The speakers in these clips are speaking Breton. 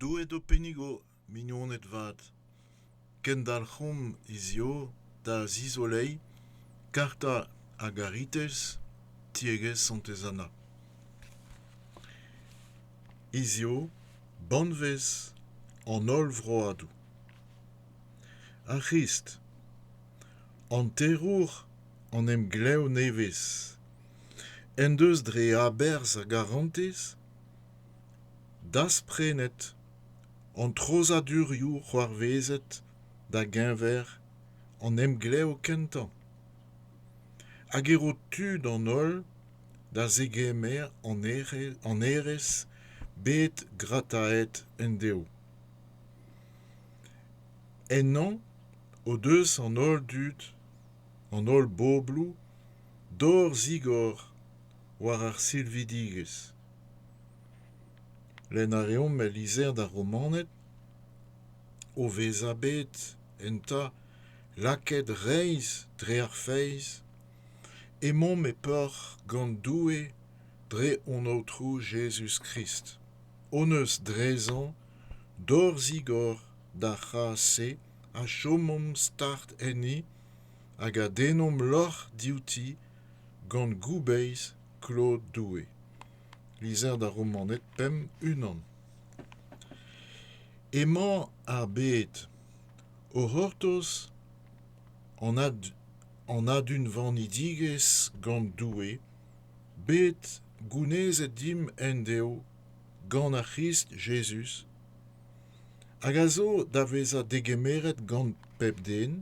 Doueed ho pennigo, mignoned vat, kendalc'homp hiziv da zizoleiñ karta a garitez tiegezh Santez Anna. Hiziv, banvez an holl vroadoù. Ar C'hrist, hanterour an emglev nevez, en deus dre aberzh ar garantez dasprenet an treuzadurioù c'hoarvezet da-geñver an emglev kentañ hag e ro tud an holl da zegemer an hêrezh bet grataet endeo. Ennañ o deus an holl dud, an holl bobloù, dor-zigor war ar silvidigezh. Lenn a reomp el lizher d'ar Romaned o vezañ bet enta lakaet reizh dre ar feiz, emaomp e peoc'h gant Doue dre hon Aotrou Jezuz-Krist, hon eus drezañ dorzhigor d'ar c'hazh-se a chomomp start enni hag a dennomp lorc'h diouti gant goubeiz klod doue lizher d'ar romaned pemp unan emañ ar bed o c'hortoz an adunvanidigezh gant doue bet gounezet dimp endeo gant ar C'hrist Jezuz, hag a zo da vezañ degemeret gant pep den,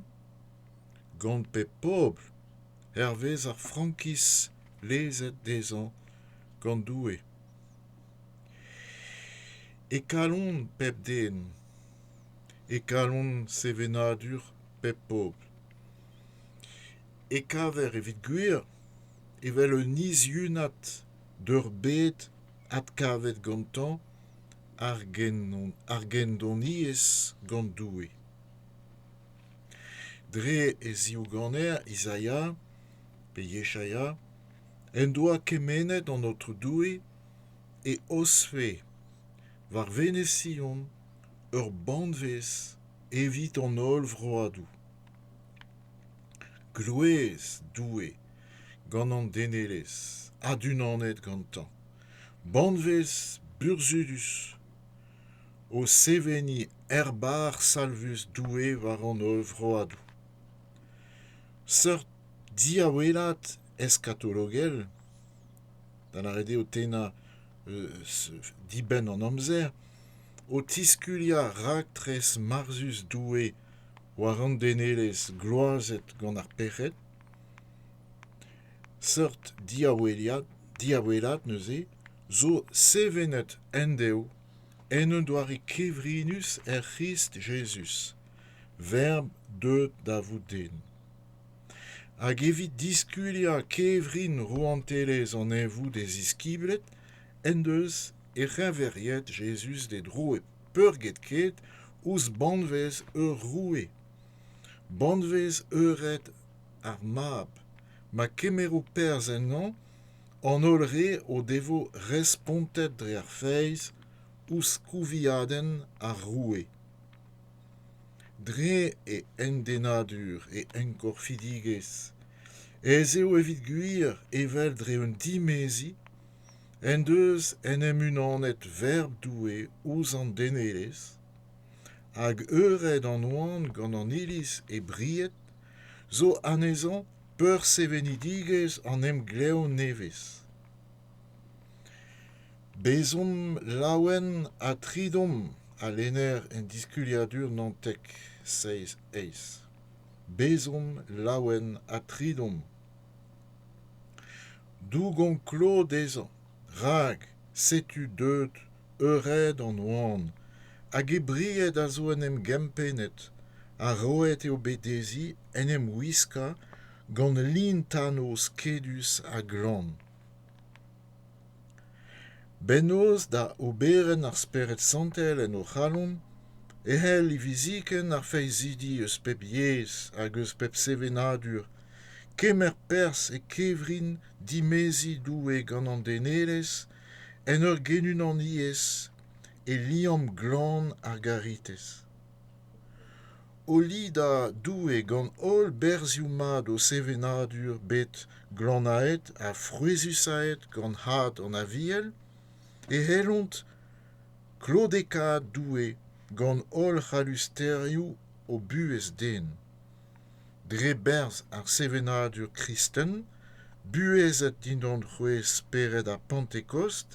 gant pep pobl hervez ar frankiz lezet dezhañ gant Doue. E kalon pep den, e kalon sevenadur pep pobl. E kaver evit gwir evel un izhunad d'ur bed adkavet gantañ ar gendoniezh gant Doue. Dre e zivganer Izaia, pe Yeshaia, en doa kemennet an Aotrou Doue e osfe war Venez Sion ur banvez evit an holl vroadoù. Glouez Doue gant an denelezh adunanet gantañ, banvez burzhudus o seveniñ erbar salvus Doue war an holl vroadoù. Seurt diawelat eskatologel, da lâret eo tennañ dibenn an amzer, o tiskuliañ raktres marzhus Doue war an denelezh gloazet gant ar pec'hed. Seurt diawelat neuze zo sevenet endeo en un doare kevrinus er C'hrist Jezuz, Verb deuet da vout den. Hag evit diskuliañ kevrin rouantelezh an Neñvoù d'e ziskibled en deus e c'heñveriet Jezuz d'e dro peurgetket ouzh banvez ur roue, banvez eured ar mab, ma kemero perzh ennañ an holl re o devo respontet dre ar feiz ouzh kouviadenn ar roue. Dre e hendennadur, e enkorfidigezh, ez eo evit gwir evel dre un dimeziñ en deus en em unanet verb Doue ouzh an denelezh hag eured an oan gant an iliz e bried zo anezhañ peursevenidigezh an emglev nevez bezomp laouen ha tridomp a lenner en diskuliadur nantek seizh eizh bezomp laouen ha tridomp Dougon klod dezhañ, rak setu deuet eured an oan hag e bried a zo en em gempennet ha roet eo bet dezhi en em wiskañ gant lin-tano skedus ha glan. Bennozh da oberenn ar Spered Santel en o c'halon e c'hell hiviziken ar feizidi eus pep yezh hag eus pep sevenadur kemer perzh e kevrin dimeziñ Doue gant an denelezh en ur genunaniezh e liamm glan ar garitez. O lidañ Doue gant holl berzhioù mat o sevenadur bet glannaet ha frouezhusaet gant had an Aviel, e c'hellont klodekaat Doue gant holl c'hallusterioù o buhez den. Dre berzh ar sevenadur kristen, buhezet dindan c'hwezh spered ar Pantekost,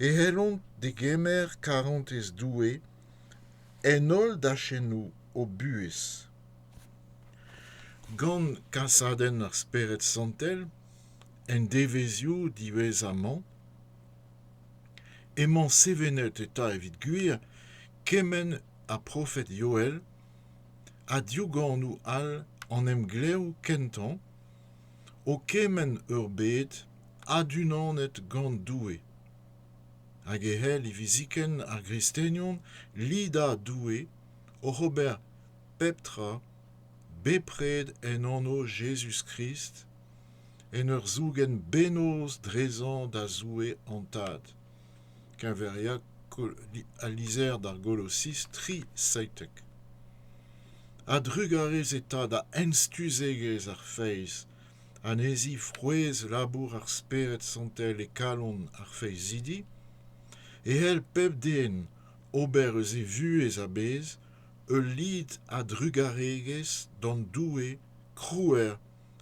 e c'hellont degemer karantez Doue en holl dachennoù o buhez. Gant kasadenn ar Spered Santel, en devezhioù diwezhañ-mañ, emañ sevenet eta evit gwir kement ha profed Yoel ha diougaanoù all an emglev kentañ o kemenn ur bed adunanet gant Doue. hag e c'hell hiviziken ar gristenion lidañ Doue oc'h ober pep tra bepred en anv Jezuz-Krist en ur zougen bennozh dezhañ da Zoue hon Tad keñveriañ al lizher d'ar Golosiz tri seitek. A-drugarez eta da enstuzegezh ar feiz anezhi frouezh labour ar Spered Santel e kalon ar feizidi, e c'hell pep den ober eus e vuhez a-bezh ul lid a-drugaregezh d'an Doue krouer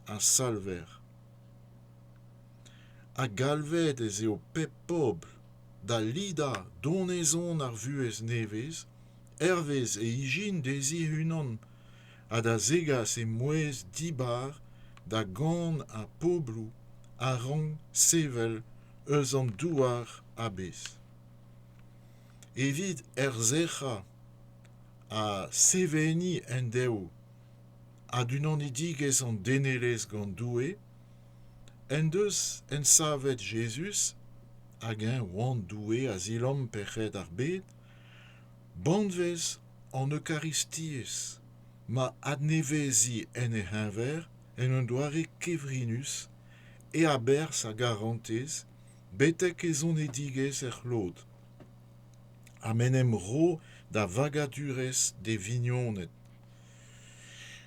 ha salver. Ha galvet ez eo pep pobl da lidañ donezon ar vuhez nevez hervez e ijin dezhi e-unan ha da zegas e-mouezh dibar da gont ar pobloù a rank sevel eus an douar a-bezh. Evit erzerc'hañ ha seveniñ endeo adunanidigezh an denelezh gant Doue en deus ensavet Jezuz hag eñ oan Doue a zilamm pec'hed ar bed Banvez an Eukaristiezh, ma adneveziñ en e c'heñver en un doare kevrinus e aberzh a garantez betek e zonedigezh er c'hlod. Ha m'en em ro da vagadurezh d'e vignoned.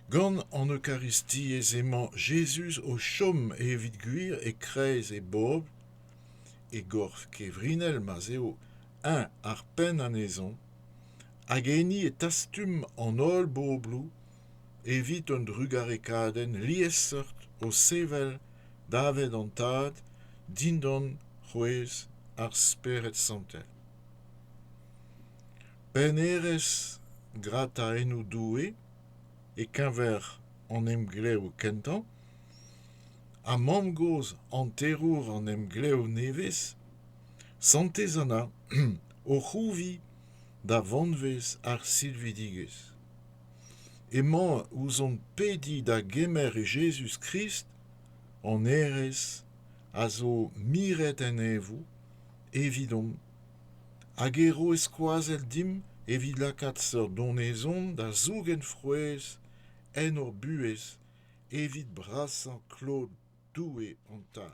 Gant an Eukaristiezh emañ Jezuz o chom evit gwir e-kreiz e bobl, e gorf kevrinel ma'z eo eñ ar penn anezhañ hag enni e tastum an holl bobloù evit un drugarekadenn liesseurt o sevel daved an Tad dindan c'hwezh ar Spered Santel. Pennerezh grataennoù Doue e-keñver an emglev kentañ ha mamm-gozh hanterour an emglev nevez Santez Anna o c'hrouviñ da vanvez ar silvidigezh. Emañ ouzhomp pediñ da gemer e Jezuz-Krist, hon Hêrez, a zo miret en Neñvoù, evidomp, hag e ro e skoazell dimp evit lakaat seurt donezon da zougen frouezh en hor buhez evit brasañ klod Doue hon Tad.